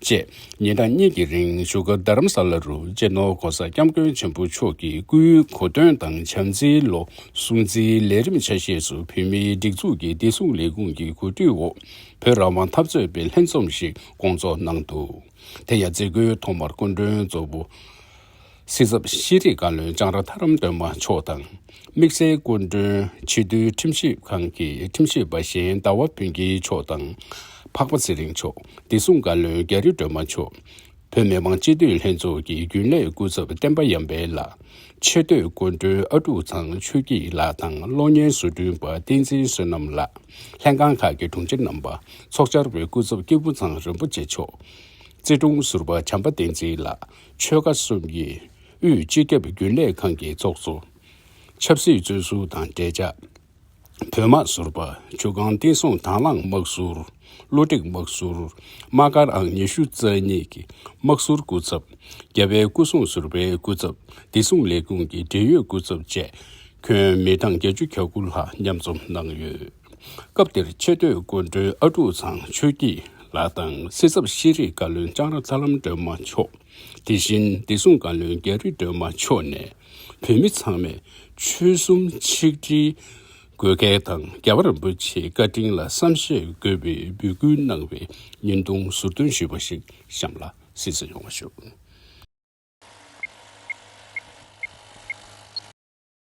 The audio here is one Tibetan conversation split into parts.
བཅས་ཉིན་གྲངས་གཉིས་ཀྱི་རིང་བཞུགས་སྒར་རྡ་རམ་ས་ལ་རུ་གཅེས་ནོར་གོང་ས་སྐྱབས་མགོན་ཆེན་པོ་མཆོག་གི་སྐུའི་གོ་སྟོན་དང་བྱམས་བརྩེའི་ལོ་སྲུང་རྩིས་ལས་རིམ་ཆ་ཤས་སུ་བོད་མིའི་སྒྲིག་འཛུགས་ཀྱི་བདེ་སྲུང་ལས་ཁུངས་ཀྱི་གོ་སྒྲིག་འོག་བོད་རང་དབང་འཐབ་རྩོད་པའི་ལྷན་འཛོམས་ཤིག་སྐོང་ཚོགས་གནང་འདུག་དེ་ཡང་མཛད་སྒོའི་ཐོག་མར་སྐུ་མགྲོན་གཙོ་བོ། སྲིད་ཚབ་ཤེས་རིག་བཀའ་བློན་ལྕང་ར་དྷ་རམ་སྟོན་པ་མཆོག་དང། དམིགས་བསལ་སྐུ་མགྲོན་ཕྱི་བསྡུའི་ཁྲིམས་ཞིབ་ཁང་གི་ཁྲིམས་ཞིབ་པ་གཞན་ཟླ་བ་བུན་སྐྱིད་མཆོག་དང། འཕགས་པ་ཚེ་རིང་མཆོག་བདེ་སྲུང་བཀའ་བློན་རྒྱ་རི་སྒྲོལ་མ་མཆོག། བོད་མི་མང་སྤྱི་འཐུས་ལྷན་ཚོགས་ཀྱི་རྒྱུན་ལས་སྐུ་ཚབ་བསྟན་པ་ཡམ་པའི་ལགས། ཆེ་བསྟོད་སྐུ་མགྲོན་ཨ་ཀྲུག་ཚང་ཆོས་སྐྱིད་ལགས་དང་གློག་བརྙན་བཟོ་སྐྲུན་པ་བསྟན་འཛིན་བསོད་ནམས་ལགས། ལྷན་ཁང་ཁག་གི་དྲུང་ཆེ་རྣམ་པ། ཚོགས་བཅར་བའི་སྐུ་ཚབ་སྐྱེས་བུ་ཚང་རིན་པོ་ཆེ་མཆོག། རྩེ་དྲུང་ཟུར་པ་བྱམས་པ་བསྟན་འཛིན་ལགས། ཆོལ་ཁ་གསུམ་གྱི་དབུས་སྤྱི་ཁྱབ་རྒྱུན་ལས་ཁང་གི་ཚོགས་གཙོ། ཆབ་སྲིད་གཙོས་ཟུར་དང་འབྲེལ་ཆགས། བོད་དམག་ཟུར། བྱུར་སྒང་བསྟན་སྲུང་དྭང་བླངས་དམག་ཟུར། བློ་སྒྲིག་དམག་ཟུར། དམག་སྒར་ཨང་ཉི་ཤུ་རྩ་གཉིས་ཀྱི་དམག་ཟུར་སྐུ་ཚབ། རྒྱ་བལ་སྐུ་སྲུང་ཟུར་པའི་སྐུ་ཚབ་བདེ་སྲུང་ལས་ཁུངས་ཀྱི་འབྲེལ་ཡོད་སྐུ་ཚབ་བཅས་ཁྱོན་མི་གྲངས་བརྒྱད་ཅུ་གྱ་དགུ་ལྷག་མཉམ་འཛོམས་གནང་ཡོད། སྐབས་དེར་ཆེས་མཐོའི་སྐུ་མགྲོན་ཨ་ཀྲུག་ཚང་ཆོས་སྐྱིད་ལགས་དང་སྲིད་ཚབ་ཤེས་རིག་བཀའ་བློན་ལྕང་ར་ཚ་ལམ་སྒྲོལ་མ་མཆོག་དེ་བཞིན་བདེ་སྲུང་བཀའ་བློན་རྒྱ་རི་སྒྲོལ་མ་མཆོག་ནས་བོད་མི་ཚང་མས་ཆོལ་གསུམ་ཆིག་སྒྲིལ་དགོས་གལ་དང་རྒྱལ་བ་རིན་པོ་ཆེའི་བཀའ་དྲིན་ལ་བསམ་ཤེས་དགོས་པའི་འབོད་སྐུལ་གནང་བའི་བརྙན་ཐུང་ཟུར་འདོན་ཞུས་པ་ཞིག་གཤམ་ལ་གཟིགས་སུ་ཡོང་བ་ཞུ།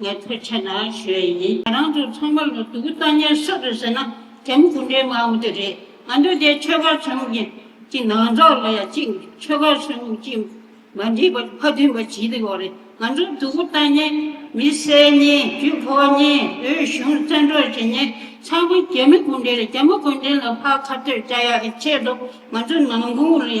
ངལ་རྩོལ་ཆེ་ན་ཞོད་ཡིན། ང་རང་ཚོ་ཚང་མ་ལོ་དུ་གུ་རྩ་ཉེར་གསུམ་རེད་ཟེར་ན་དེམ་དགུ་འདྲའི་མང་བོ་དེ་རེད། ང་ཚོ་དེ་ཆོལ་ཁ་ཆེན་མོ་གྱི་གྱི་ནང་ཚགས་ལ་ཡ་གཅིག་ཆོལ་ཁ་ཆེན་མོ་གྱི་མ་འདྲིས་པ་ཕ་མཐུན་པ་ཇི་ལྟ་བ་རེད་ང་ཚོ་དུ་གུ་རྩ་ཉེར་མི་སེར་ཉེར་བཅུ་ཕོ་ཉེར་འོས་གཞུང་བཙན་འཕྲོག་བྱེད་ཉེར་ཚང་མ་རྒྱ་མི་དགུ་འདྲའི་རེད་རྒྱ་མི་དགུ་འདྲའི་ལ་ཕ་ཁ་ཐོད་ལྕགས་ཡ་ཨི་ཆད་འདུག་ང་ཚོ་ནང་ཁུང་ལ་ཡ་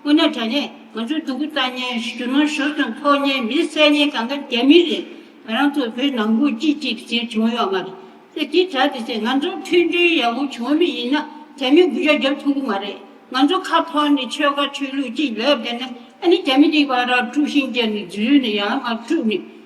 སྐུ་ན་དྲ་གནས་ང་ཚོའི་སྡུག་གུ་ལྟ་ཉན་ཞུ་ན་ཞུ་དང་ཕོག་ཉན་མི་བསད་ཉན་གང་ག་རྒྱ་མི་རེད་ང་རང་ཚོ་བོད་ནང་དགུ་གཅིག་གཅིག་གི་ཟེར་བྱུང་ཡོག་མ་རེད་དེ་དེ་དྲ་དེ་ཚེ་ང་ཚོ་མཐུན་སྒྲིལ་ཡག་པོ་བྱུང་མི་ཡིན་ན་རྒྱ་མི་དགུ་ཤ་རྒྱབ་ཐུབ་གི་མ་རེད་ང་ཚོ་ཁ་ཕོར་ནི་ཆོལ་ཁ་ཆོས་ལུགས་གཅིག་ལབ་བསྡད་ན་ཨ་ནི་རྒྱ་མི་གཉིས་པ་ར་དཀྲུག་ཤིང་རྒྱ་ནི་རྫུན་ནི་ཡང་མ་དཀྲུག་ནི།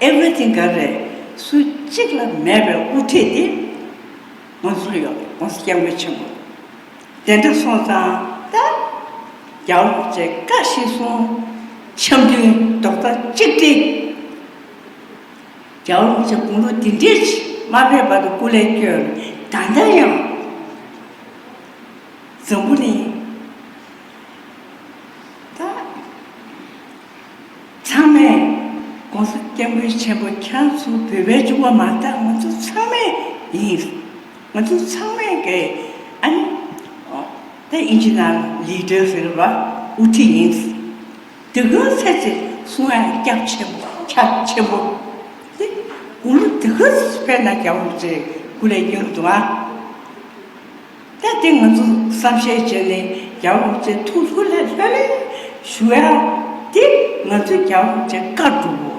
Everything ག་རེད། སུ་གཅིག་ལ་མེད་པའི་དབུ་ཁྲིད་དེ། ང་ཚོར་ཡོད། ང་ཚོ་སྐྱབས་མགོན་ཆེན་པོ། དེ་འདྲ་སོང་ཙང་ད། རྒྱ་འོག་བཅས་བཀའ་བཞིན་སྲུང། འཆམ་མཐུན་རྡོག་རྩ་གཅིག་སྒྲིལ། རྒྱ་འོག་བཅས་དགུང་ལོ་འདི་འདྲའི་ཕྱི། མ་ཕེབས་བར་དུ་སྐུ་ལས་བསྐྱོན། ད་ལྟ་ཡང། འཛམ་བུ་གླིང། ད། ཚང་མས། ྋགོང་ས་སྐྱབས་མགོན་ཆེན་པོ་ཁྱེད་རང་ཚོ་བོད་པའི་ཅོ་བ་མ་ཐག་ང་ཚོ་ཚང་མས་ཡིན། ང་ཚོ་ཚང་མས་དགེ། ཨ་ནི། ཨོ། ད་ཡིན་ཅི་ནའང་ལི་ཀྲོའི་ཟེར་བ་དབུ་ཁྲིད་ཡིན། དེ་ཀུན་ཚེ་ཚེ་གསུང་ཡང་སྐྱབས་ཆེན་པོ་ཁྱབ་ཆེན་པོ། དེ་དགུང་ལོ་དེ་ཀུན་ཕེབས་ན་སྐྱབས་ལོ་ཚེ་དགུ་ལས་ཉུང་དུ་ཨང། ད་དེ་ང་ཚོ་བསམ་ཤེས་བྱས་ནས་རྒྱ་འོག་ཚེ་ཐུང་ལྷོད་ལྷོད་ལྷོད་ལྷོད་ཞུ་ཡ། དེ་ང་ཚོའི་རྒྱ་འོག་ཚེ་བཀའ་སྒྲུབ་བོ།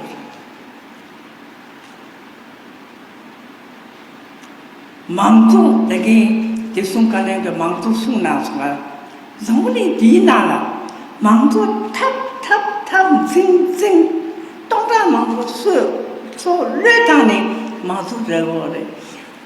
མང་གཙོ་ད་གིན་བདེ་སྲུང་བཀའ་བློན་གྱི་མང་གཙོ་གསུངས་གནང་སོང་ང། བཟང་བོ་ནི་འདིའི་ནང་ལ། མང་གཙོ་འཐབ་འཐབ་འཐབ་འཛིང་འཛིང། སྟོང་ཕྲག་མང་པོ་སོད་སོད་བློས་བཏང་ནས་མང་གཙོ་རེད་བོ་རེད།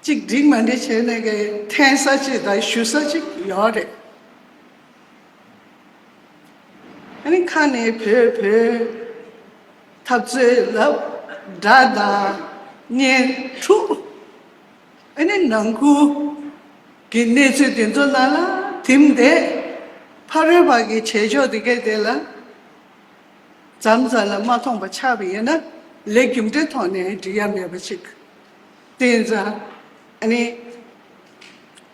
གཅིག་སྒྲིག་མ་འདི་བྱས་ནས་ཀྱི་འཐེན་ས་ཅིག་དང་ཞུ་ས་ཅིག་ཡོད་རེད། ཨ་རི་ཁ་ནས་བོད་བོད་འཐབ་རྩོད་ལབ་སྒྲ་དང་བརྙན་ཐུག་ཨ་རི་ནང་ཁུལ་གྱི་གནས་ཚུལ་དེ་ཚོ་ནང་ལ་དིམ་བསྡད་ཕ་རོལ་བར་གྱི་བྱེད་ཕྱོགས་དེ་གའི་ཐད་ལ་ཛམ་ཛ་ལ་མ་མཐོང་པ་ཆགས་པ་ཡིན་ན་ལས་རྒྱུ་འབྲས་ཐོག་ནས་འགྲིག་ཡ་མེད་པ་ཅིག་དེ་ཡིན་ཙང། ཨ་ནི།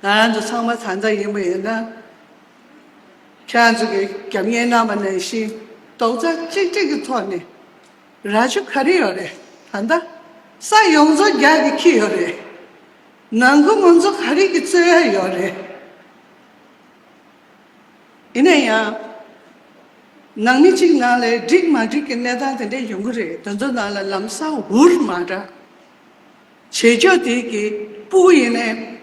ང་རང་ཚོ་ཚང་མ་ད་ལྟ་ཡིན་པ་ཡིན་ན། ཁྱེད་རང་ཚོ་གི་རྒྱབ་གཉེར་གནང་བ་ནང་བཞིན་རྡོག་རྩ་གཅིག་སྒྲིལ་གྱི་ཐོག་ནས་ར་ཅོ་ག་རེ་ཡོད་རེད། ད་ལྟ་ས་ཡོངས་རྫོགས་རྒྱག་གི་འཁྱིལ་ཡོད་རེད། ནང་ཁུལ་ངོ་མཚོ་ག་རེ་གྱི་རྩོད་ཡ་ཡོད་རེད། ཡིན་ན་ཡང། ནང་མི་གཅིག་ནང་ལས་འགྲིག་མ་འགྲིག་གི་གནས་སྟངས་དེ་འདྲ་ཡོང་གི་རེད་དོན་དུ་ནང་ལ་ལམ་སང་འུར་མ་འདྲ་བྱེད་ཆོག་དེ་གི་སྤུ་གུ་ཡིན་ནའི།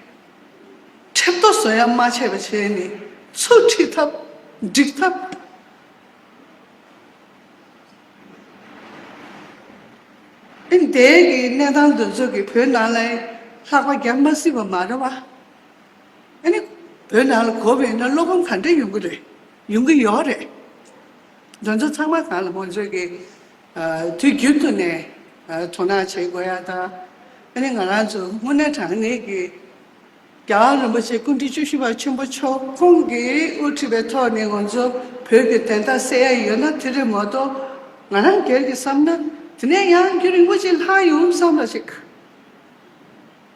ཁྲེབ་ཏོ་བཟོ་ཡ་མ་བྱས་པ་བྱས་ནས་ཚུར་ཁྲིད་ཐབས་འགྲིག་ཐབས། ཨིན་དའི་གི་གནས་སྟངས་འདི་ཚོ་གི་བོད་ནང་ལའི་ལྷག་པ་རྒྱབ་མ་སྲིད་པ་མ་རེད་བ། ཨ་ནི། བོད་ནང་ལ་གོ་བས་ན་བློ་ཕམ་གང་འདྲ་ཡོང་གི་རེད། ཡོང་གི་ཡོད་རེད། འདི་ཚོ་ཚང་མ་གང་ལ་ངོ་ཚོས་ཀྱི་དུས་རྒྱུན་དུ་ནས་དོ་སྣང་བྱེད་དགོས་ཡ་ད། ཨ་ནི་ང་རང་ཚོ་དངོས་གནས་དྲང་གནས་ཀྱི་རྒྱ་གར་རིན་པོ་ཆེ་སྐུ་མགྲོན་བཅུ་བཞི་པ་ཆེན་པོ་མཆོག་ཁོང་གིས་དབུ་ཁྲིད་པའི་ཐོག་ནས་ང་ཚོ་བོད་ཀྱི་དན་རྟགས་གསལ་ཡ་ཡོད་ན་དེ་རེད་མ་གཏོགས་ང་རང་སྒེར་གྱི་བསམ་ན་དེ་ནས་ཡང་རྒྱུ་རིན་པོ་ཆེ་ལྷག་ཡོང་བསམ་ལ་ཞིག།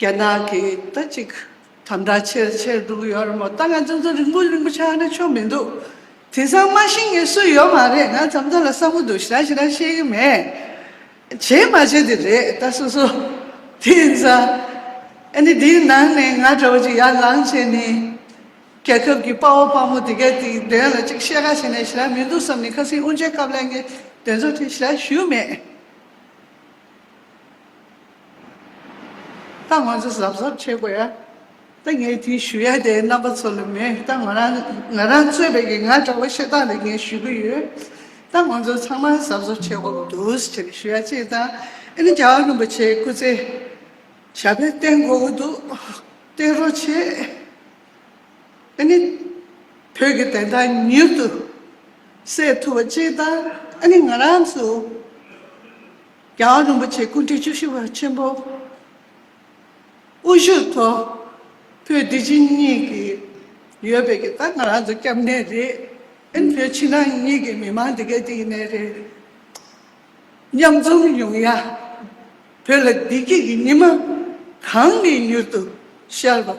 རྒྱ་ནག་གི་ད་ཅིག་དམ་དྲག་ཆེར་ཆེར་འདུག་ཡོད་རེད་མོད་ད་ང་ཚོ་ཚོ་རིང་པོ་རིང་པོ་ཆགས་ན་ཆོ་མི་འདུག་དེང་སང་སྨྲ་ཤེས་མཁན་སུ་ཡོད་མ་རེད་ང་འཇམ་དཔལ་ལ་བསམ་བོ་འདུག་ཞེ་ར་ཞེ་ར་ཤེས་ཀྱི་མེད་བྱེད་མ་བྱེད་དེ་རེད་ད་སོ་སོ་དེང་སང་ཨ་ནི་དེའི་ནང་ནས་ང་འདྲ་བོ་ཅིག་ཡར་ལངས་བྱས་ནས་རྒྱལ་ཁབ་ཀྱི་དཔའ་བོ་དཔའ་མོ་དེ་གའི་དེའི་དོན་ལ་ཅིག་བཤད་ཁ་བྱས་ནས་ཞེ་ར་མི་འདུག་བསམ་ནས་ཁ་སིང་དབུ་འབྱེད་སྐབས་ལས་ངའི་དོན་ཚོ་དེ་ཞེ་ར་ཞུས་མེད། ད་ང་ཚོ་གཟབ་གཟབ་བྱེད་དགོས་ཡ། ད་ངས་དེ་ཞུ་ཡ་དེ་རྣམ་པ་ཚོ་ལ་མེད་ད་ང་རང་ང་རང་རྩོད་པའི་གི་ང་འདྲ་བོ་ཤེས་སྟངས་ལ་ངས་ཞུ་གི་ཡོད། ད་ང་ཚོ་ཚང་མ་གཟབ་གཟབ་བྱེད་དགོས་པ་འདུག་ཟེར་ནས་ཞུ་ཡ་གཅིག་བཏང། ཨ་ནི་རྒྱ་གར་རིན་པོ་ཆེའི་སྐུ་ཚེ་ཞབས་པད་བརྟན་དགོས་ཀྱི་འདུག་བརྟན་རོགས་བྱེད། ཨ་ནི་བོད་ཀྱི་བདེན་མཐའ་མྱུར་དུ་སེལ་ཐུབ་པ་གཅིག་བཏང། ཨ་ནི་ང་རང་ཚོ། རྒྱལ་བ་རིན་པོ་ཆེ་སྐུ་ཕྲེང་བཅུ་བཞི་བ་ཆེན་པོ་དབུ་བཞུགས་ཐོག་བོད་བདེ་སྐྱིད་གཉིས་ཀྱི་ཡོད་པའི་གི་ད་ང་རང་ཚོ་སྐྱབས་གནས་རེད་ཨིན་བོད་ཕྱི་ནང་གཉིས་ཀྱི་མི་མང་འདི་གའི་དེ་ཡིན་ནའི་རེད་མཉམ་འཛོམས་ཡོང་ཡ་བོད་ལ་བདེ་སྐྱིད་ཀྱི་ཉི་མ་གང་གི་མྱུར་དུ་ཤར་བ།